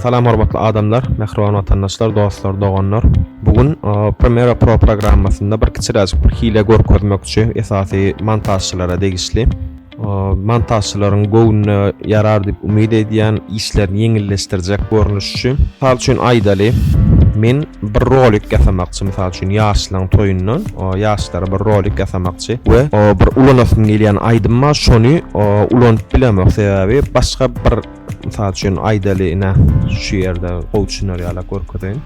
Salam hormatly adamlar, mähriban watandaşlar, dostlar, doganlar! Bu gün Premiere Pro programmasynda bir kiçiräjik bir hile görkezmekçi, esasy montažçylara degişli. Montažçylaryň göwnüne ýarar diýip umyt edýän, işlerini ýeňilleşdirjek görnüş üçin. Mysal üçin aýdaly, men bir rolik ýasamakçy, mysal üçin ýaşlaryň toýundan ýaşlara bir rolik ýasamakçy we bir ulanasym gelýän aýdym bar, şony ulanyp bilemok, sebäbi başga bir Mysal üçin aýdaly ine şu ýerde gowy düşüner ýala görkezeýin.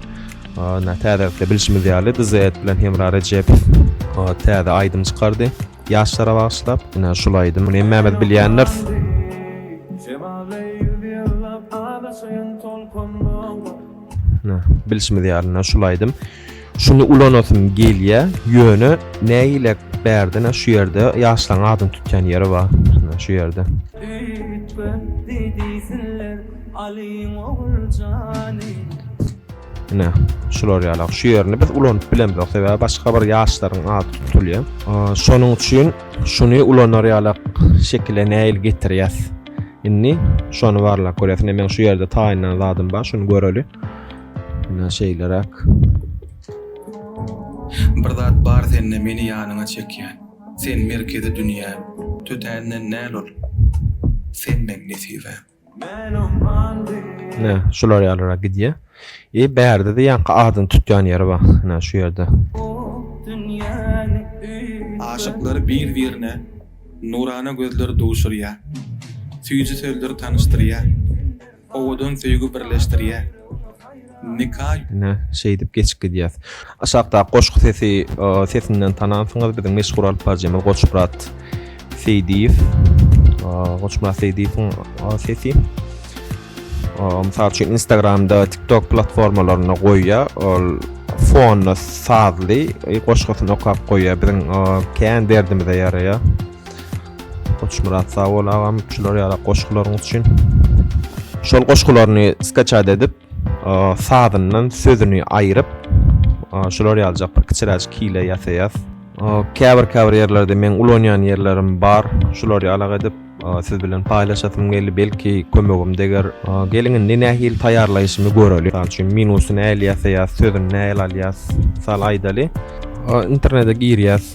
Ine täze wagtda bilşimiz ýaly DZED bilen Hemra Rejepow täze aýdym çykardy. Ýaşlara bagyşlap ine şul aýdym. Muny hemmämiz bilýändiris. Ine bilşimiz ýaly ine şul aýdym. Şuny ulanasym gelýä ýöne nägilek bärdine şu ýerde ýaşlaň adyny tutýan ýeri bar hne şu ýerde. Üýtgetdi diýsinler Alyň Oguljany. Ine şular ýalak şu ýerini biz ulanyp bilemzok sebäbi başga bir ýaşlaryň ady tutulýa. Şonuň üçin şuny ulanar ýalak şekile nägile getirýäs. Indi şony barlap görýäs ine meň şu ýerde taýynlan zadym bar şuny göreli. Mine şeýle rak. Bir zat bar sende meni ýanyňa çekýän. Sen merkezi dünýäm. Tötänden näl ol. Sen meň nesibäm. Mine şular ýaly rak gidýär. E bärde-de ýaňky adyny tutýan ýeri bar. Mine şu ýerde. Aşyklar bir-birine nurana gözler duşurýar. Süýji sözler tanyşdyrýar. Owadan söýgi birleşdirýär. Nika. Ine, şeýdip geçip gidýäs. Aşakdaky goşgy sesi sesinden tanansyňyz, biziň meşhur alyp baryjymyz Goçmyrat Seýdiýew. Goçmyrat Seýdiýewiň sesi. Mysal üçin Instagramda, TikTok platformalarynda goýýar. Ol fonda sazly goşgusyny okap goýýar. Biziň kän derdimize ýaraýar. Goçmyrat sag bol agam şular ýaly goşgularyň üçin. Şol goşgularyny skaçat edip, sazyndan sözüni aýryp, şular ýaljak bir kiçiräjik hile ýasaýas. Käbir käbir ýerlerde meň ulanýan ýerlerim bar. Şular ýalak edip, siz bilen paýlaşasym geldi. Belki kömegim deger. Geliň indi nähili taýýarlaýşymy göreli. Mysal üçin minusy nähili ýasaýas, sözüni nähili alýas, mysal aýdaly. internete girýäs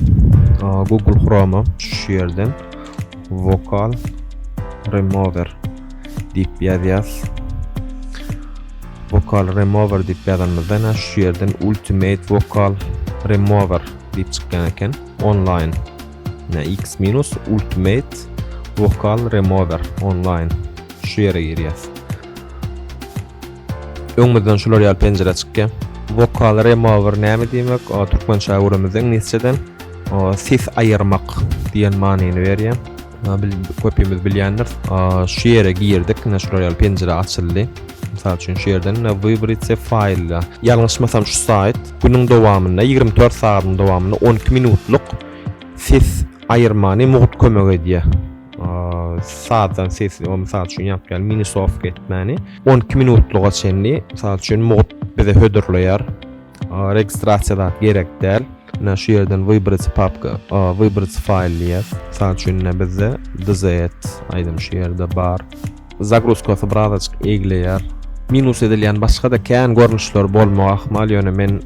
google chrome şu ýerden vokal remover diýip ýazýas vokal remover diýip ýazanymyzda ene şu ýerden ultimate vokal remover diýip çykýan eken online ne x minus ultimate vokal remover online şu ýere girýäs Öňümizden şular ýaly penjire çykýar. Vokal remover näme diýmek? O türkmençe öwrümizde iňlisçeden ses aýyrmak diýen manyny berýär. Bil köpimiz bilýändir. Şu ýere girdik, ine şular ýaly penjire açyldy. Mysal üçin şu ýerden ine wybritse faýlda. Ýalňyşmasam şu saýt günüň dowamynda 24 sagadyň dowamynda 12 minutlyk ses aýyrmany mugt kömek edýär. sazdan sesli o misal üçin ýapýan mini sofka etmäni 12 minutlyga çenli misal üçin mod bize hödürleýär registrasiýa zat gerek däl na şu ýerden wybrat papka wybrat faýl diýýär misal üçin bizde dz aýdym şu ýerde bar zagruzkasy birazajyk egleýär minus edilýän başga da kän görnüşler bolmagy ahmal ýöne men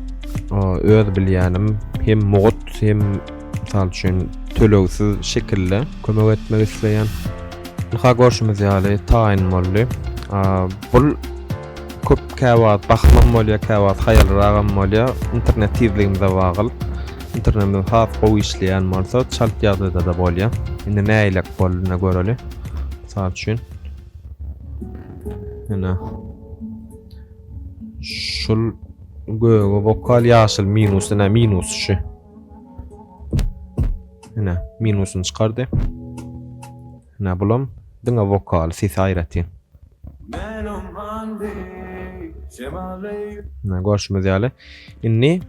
öz bilýänim hem mod hem Mysal üçin, tölegsiz şekilde kömek etmek isleýän. Ynha görşümiz ýaly taýyn boldy. Bul köp käwagt bahymam bolýar, käwagt haýalyragam bolýar. Internet tizligimize bagyl. Internetimiz has gowy işleýän bolsa, çalt ýagdaýda-da bolýar. Indi nägilek bolduny göreli. Mysal üçin, ýene şul göge bokal, ýaşyl minus, ine minus şu. Ine, minusyny çykardy. Ine, bulam diňe wokal, sesi aýratyn. Ine, görşümiz ýaly. Indi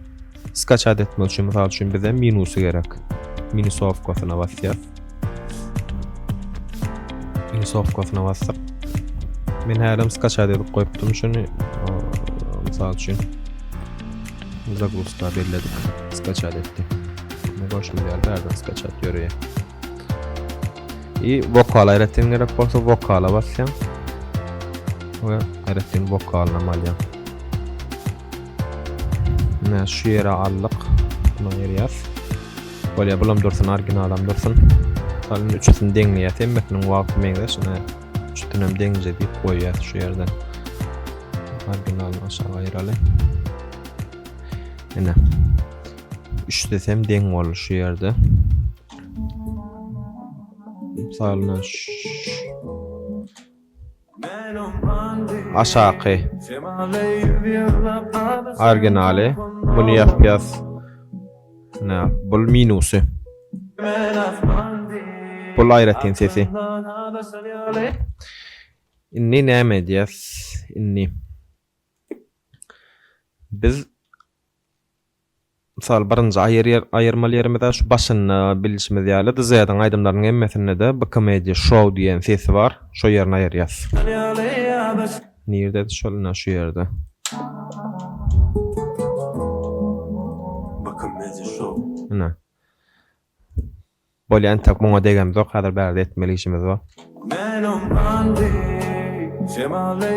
skaçat etmek üçin, mysal üçin, bize minusy gerek. Minusowkasyna basýas. Insofkasyna basdyk. Men hälem skaçat edip goýupdym şuny. Mysal üçin zagusta belledik. Skaçat etdi. Ne goşum geldi, ardan skaçat görüyor. İyi, vokal aýratyn gerek bolsa vokala basýan. Ve aýratyn vokalynam alýan. Mine şu yere aldık. Bunu ayırýas. Bolýar, bulam dursun, originalam dursun. Salyn üçüsini deňleýäs, hemmesiniň wagty meňzeş. Ine, üçüsini hem deňje diýip goýýas şu ýerden. Originalyny aşağı aýyraly. Ine. Üçüsi hem deň boldy şu ýerde. Salyn şu Aşaky. Originaly. Muny ýapýas. Nä, bul minusy. Bul aýratyn sesi. Indi näme edýäs? Indi biz Mysal, birinji aýyrmaly ýerimiz-ä şu başynda bilişimiz ýaly, DZ-iň aýdymlarynyň hemmesinde-de BKMedia Show diýen sesi bar, şo ýerini aýyrýas. Nirdedi şol, ine, şu ýerde. Ine. Bolýa entek muňa degemizok hazir bärde etmeli işimiz bar. Menem andy şemal eý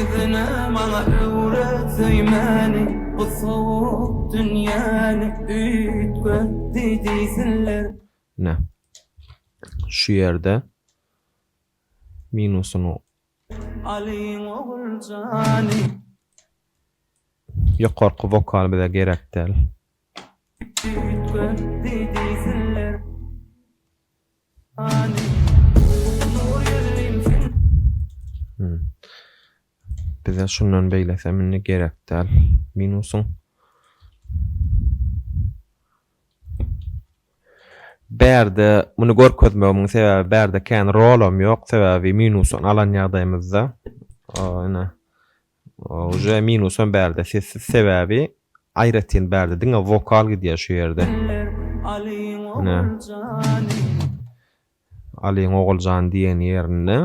yzyna maňa öwret söýmäni bu sowuk dünýäni üýtgetdi diýsinler. Ine şu ýerde minusyny. Alyň oguljany. Ýokarky wokal bize gerek däl. Bize şundan beýlesem indi gerek däl. Minusyň Bärde muny görkezmegimiň sebäbi bärde kän rolam ýok. Sebäbi minusdan alan ýagdaýymyzda ine Uje minusam bärde sessiz sebäbi aýratyn bärde diňe wokal gidýär şu ýerde. Ine. Alyň Oguljany diýen ýerinde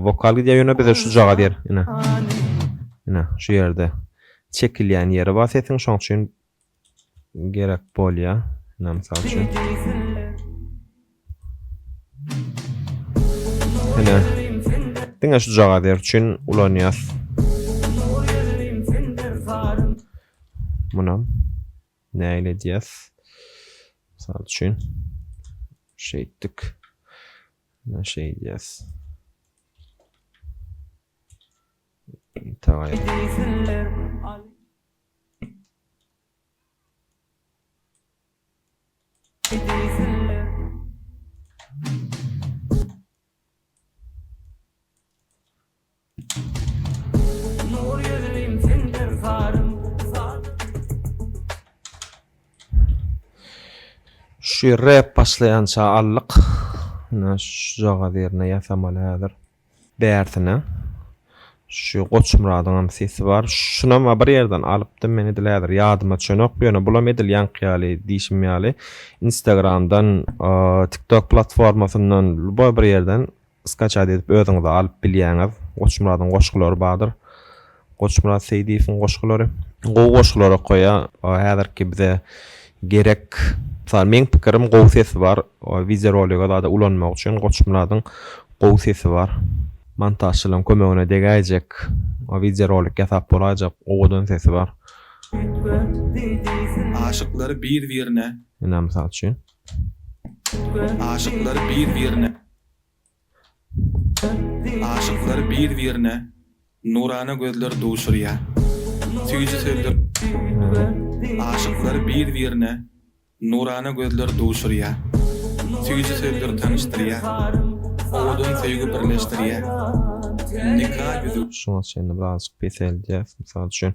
wokal gidýär ýöne bize şujagaz ýer ine. Ine şu ýerde çekilýän ýeri bar sesiň şoň üçin gerek bolýa ina mysal üçin ina diňe şu jaga zer üçin ulanýas munam näle edýäs mysal üçin şeýtdik ina şeýdýäs tagaýýar Şu rep başlaýança aldyk. Ine şu jagaz ýerine ýasamaly häzir. Bärsine şu Goçmyradyňam sesi bar. Şunam-a bir ýerden alypdym men edil häzir ýadyma çönok, ýöne bulam edil ýaňky ýaly diýşim ýaly Instagramdan, TikTok platformasyndan lüboý bir ýerden skaçat edip özüňize alyp bilýäňiz. Goçmyradyň goşgulary bardyr. Goçmyrat Seýdiýewiň goşgulary. Gowy goşgular okaýa häzirki bize gerek mysal meň pikirim gowy sesi bar wideo rolige zada ulanmak üçin Goçmyradyň gowy sesi bar montažçylaryň kömegine degäýjek wideo rolik ýasap bolaýjak owadan sesi bar. Aşyklary bir birine. Ina mysal üçin. Aşyklary bir birine. Aşyklar bir-birine nurana gözler duşurýar. Süýji sözler Aşyklar bir-birine nurana gözler duşurýar. Süýji sözler tanyşdyrýar. Owadan söýgi birleşdirýär. Nika ýüzük. Şuňa çenli birazajyk peseldýäs. Mysal üçin.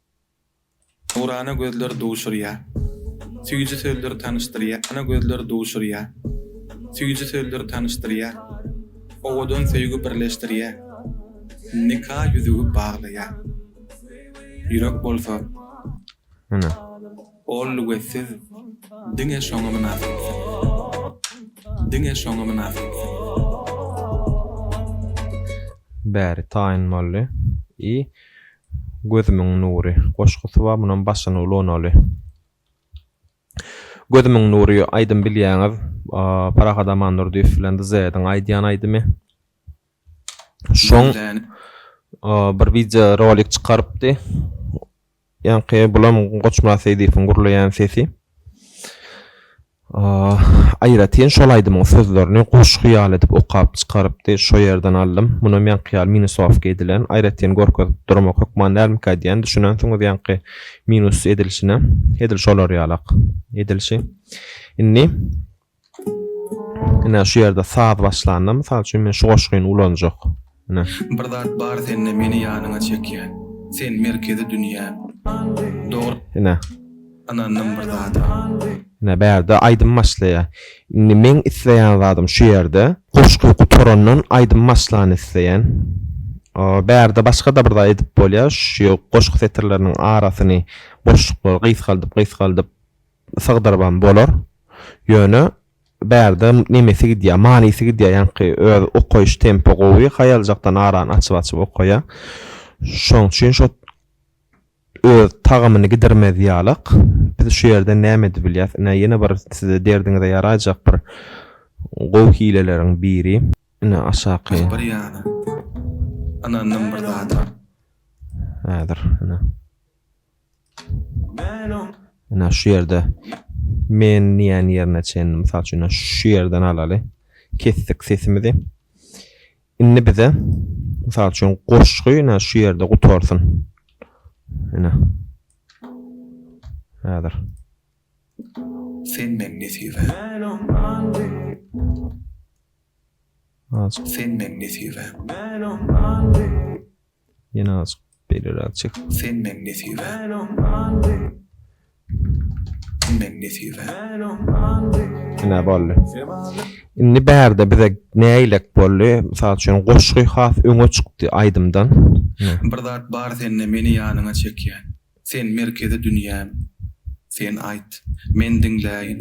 Nurana gözler duşurýa. Süýji sözler tanyşdyrýa. Ana gözler duşurýa. Süýji sözler tanyşdyrýa. Owadan söýgi birleşdirýä. Nika ýüzügi baglaýa. Ýürek bolsa. Ene. Ol lügetsiz. Diňe şoňa mynasyp. Diňe şoňa mynasyp. Bäri taýyn boldy. I Gözümiň nury goşgusy bar munam başyny ulanaly. Gözümiň nury aýdym bilýäňiz Parahat Amandurdyýew bilen Dzeýediň aýdýan aýdymy. Şoň bir wideo rolik çykarypdy. Ýaňky bulam Goçmyrat Seýdiýewiň gürleýän sesi. Aýratyn şol aýdymyň sözlerini goşgy ýaly edip okap çykarypdy, şo ýerden aldym. Munam ýaňky ýaly minusowka edilen. Aýratyn görkezip durmak hökman dälmikä diýän, düşünensiňiz ýaňky minus edilişine. Edil şolar ýalak edilişi. Indi ine şu ýerde saz başlanda, mysal üçin, men şu goşgyny ulanjak. na. Bir zat bar sende meni ýanyňa çekýän sen merkezi dünýäm dogry na. Ynandym bir zada. Na bärde aýdym başlaýa indi meň isleýän zadym şu ýerde goşgy gutarandan aýdym başlany isleýän bärde başgada bir zat edip bolýa şu goşgy setirleriniň arasyny boşluklary gysgaldyp gysgaldyp sygdyrybam bolar ýöne Bärde nemesi gidýär, manysy gidýär, ýaňky öz okaýyş tempi gowy, haýaljakdan arany açyp-açyp okaýa. Şoň üçin şo öz tagamyny gidirmez ýalak. Biz şu ýerden näme edip bilýäs? Ine, ýene bir size derdiňize ýaraýjak bir gowy hileleriň biri. Ine, aşaky. Ol bir ýana. Ynandym bir zada. Häzir, ine. Ina şu ýerde men diýen ýerine çen mysal üçin şu ýerden alaly. Kesdik sesimizi. Indi bize mysal üçin goşgy ina şu ýerde gutarsyn. Ina. Häzir. Sen men nesibe. Sen men nesibe. Ýene azajyk beýleräk çek. Senden nesibe. Senden nesibe. Ine boldy. Indi bärde bize nägilek boldy. Mysal üçin goşgy has öňe çykdy aýdymdan. Bir zat bar sende meni ýanyňa çekýän. Sen merkezi dünýäm, sen aýt, men diňläýin,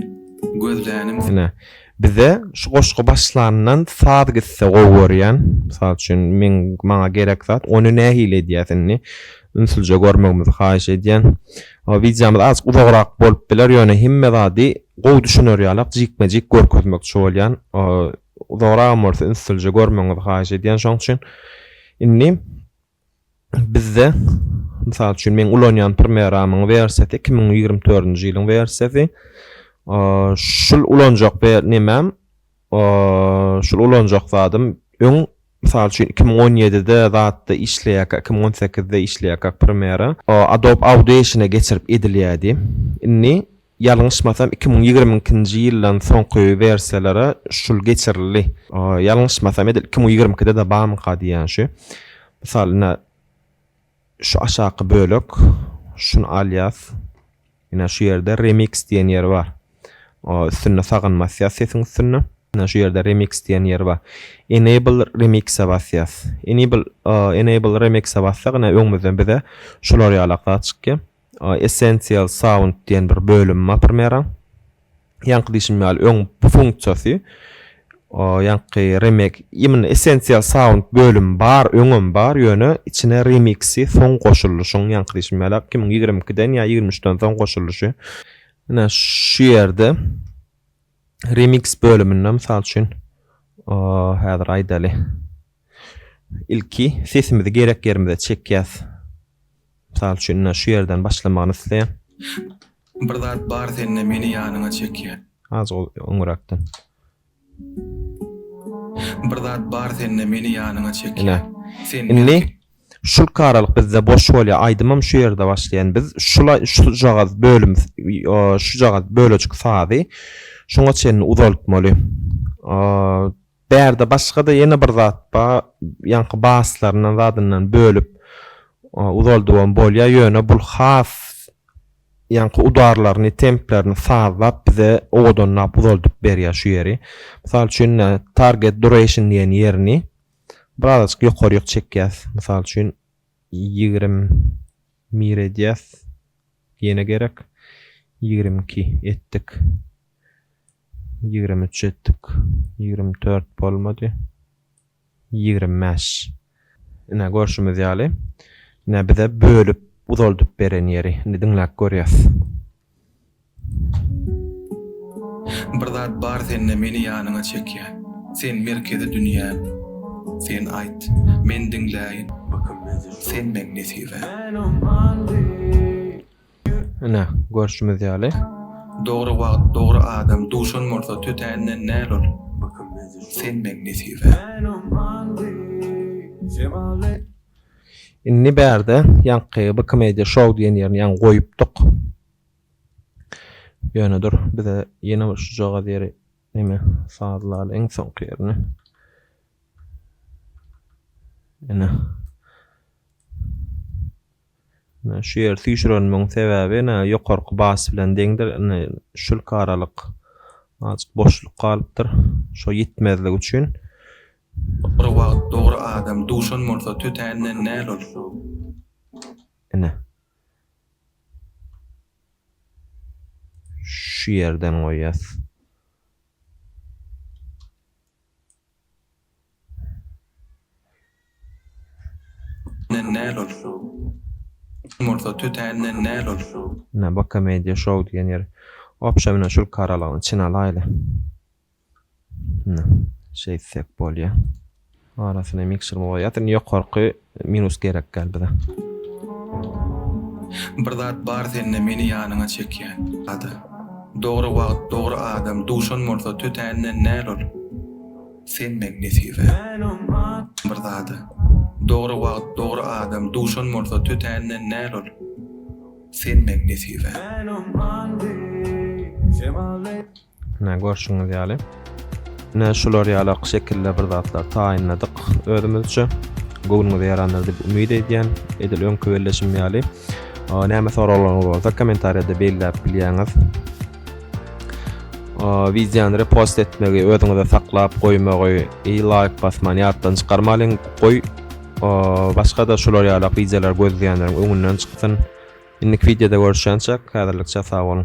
gözlänim sen. Ine, bize şu goşgy başlandan saz gitse gowy görýän. Mysal üçin, meň, maňa gerek zat, ony nähili edýäs indi? Ünslije görmegiňizi haýyş edýän. Wideomyz azajyk uzagrak bolup biler, ýöne hemme zady gowy düşüner ýalak jikme-jik görkezmekçi bolýan. Uzagragam bolsa ünslije görmegiňizi haýyş edýän şoň üçin. Indi. Bizde, mysal üçin, meň ulanýan Primeramyň wersiýasy iki müň ýigrimi dördünji ýylyň wersiýasy. Şul ulanjak we nemem, şul ulanjak zadym öň, mysal üçin, iki müň on ýedide zatda işleýärkä, iki müň on sekizde işleýärkä Primera Adobe Audition-e geçirip edilýärdi. Indi. Ýalňyşmasam iki müň ýigrimi ikinji ýyldan soňky wersiýalara şul geçirildi. Ýalňyşmasam edil iki müň ýigrimi ikide-de barmyka diýýän şu. Mysal ine şu aşaky bölek şuny alýas. Ine şu ýerde remix diýen ýeri bar. Üstünde sagan basýas sesiň üstünde. Ine şu ýerde remix diýen ýeri bar. Enable remix-e basýas. Enable enable remix-e bassak ine öňümizden bize şular ýalak zat çykýar. Essential Sound diýen bir bölümi bar Premiere-iň. Ýaňky diýşim ýaly öň bu funksiýasy ýaňky remek imенно Essential Sound bölümi bar, öňem bar, ýöne içine remiksi soň goşuldy. Şoň ýaňky diýşim ýaly iki müň ýigrimi ikiden ýa ýigrimi üçden soň goşulyşy. Ine şu ýerde remiks bölüminde mysal üçin häzir aýdaly. Ilki sesimizi gerek ýerimize çekýäs. Mysal üçin ine şu ýerden başlamagyny isleýän. Bir zat bar sende meni ýanyňa çekýän. Azgyl öňüräkden. Bir zat bar sende meni ýanyňa çekýän. Ine. Indi şulki aralyk bizde boş bolýar. Aýdymam şu ýerde başlaýan. Biz şula şujagaz bölüm şujagaz bölejik sazy şuňa çenli uzaltmaly. Bärde başga-da ýene bir zat ba, ýaňky baslaryndan zadyndan bölüp uzaldybam bolýa, ýöne bul has ýaňky udarlaryny, templerini sazlap bize owadanlap uzaldyp berýa şu ýeri. Mysal üçin target duration diýen ýerini birazajyk ýokaryk çekýäs. Mysal üçin ýigrimi bir edýäs. Ýene gerek ýigrimi iki etdik. Ýigrimi üç etdik. Ýigrimi dört bolmady. Ýigrimi bäş. Ine, görşümiz ýaly, ine, bize bölüp uzaldyp beren ýeri. Indi diňläp görýäs. Bir zat bar sende meni ýanyňa çekýän, Sen merkezi dünýäm, sen aýt, men diňläýin, Sen meň nesibäm. Ine, görşümiz ýaly. Dogry wagt, dogry adam duşan bolsa tötänden näl ol. Senden nesibä. Indi bärde ýaňky Bkmedia show diýen ýerini ýaňy goýupdyk. Ýöne dur, bize ýene bir şujagaz ýeri neme sazlaly iň soňky ýerini. Ine. Ine, şu ýeri süýşürenimiň sebäbi, ine, ýokarky bas bilen deňdir. Ine, şulki aralyk azajyk boşluk galypdyr. Şo ýetmezlik üçin. Bir wagt dogry adam duşan bolsa tötänden näl ol şu. Ine. Şu ýerden goýýas. Näl ol şu. Kim bolsa tötänden näl ol şu. Ine bu komediýa şou diýen ýeri. Obşa mine şul karalygyny çyn alaýly. Ine şeýtsek bolýa. Arasyna miksermi goýýas. Indi ýokarky Minus gerek däl bize. Bir zat bar sende meni ýanyňa çekýän ada. Dogry wagt dogry adam duşan bolsa tötänden näl ol senden nesibä bir zada dogry wagt dogry adam duşan bolsa tötänden näl ol senden nesibä. Mine görşüňiz ýaly. Mine şular ýaly ak şekilde bir zatlar taýynladyk özümizçe. Göwnüňize ýarandyr diýip umyt edýän. Edil öňki belleşim ýaly. Näme soraglaryňyz bolsa kommentariýada belläp bilýäňiz. Wideony repost etmegi, özüňize saklap goýmagy, i laýk basman ýatdan çykarmalyň. Goý, başga-da şular ýaly wideolar gözleýänleriň öňünden çyksyn. Indiki wideoda görüşýänçäk, häzirlikçe sag boluň.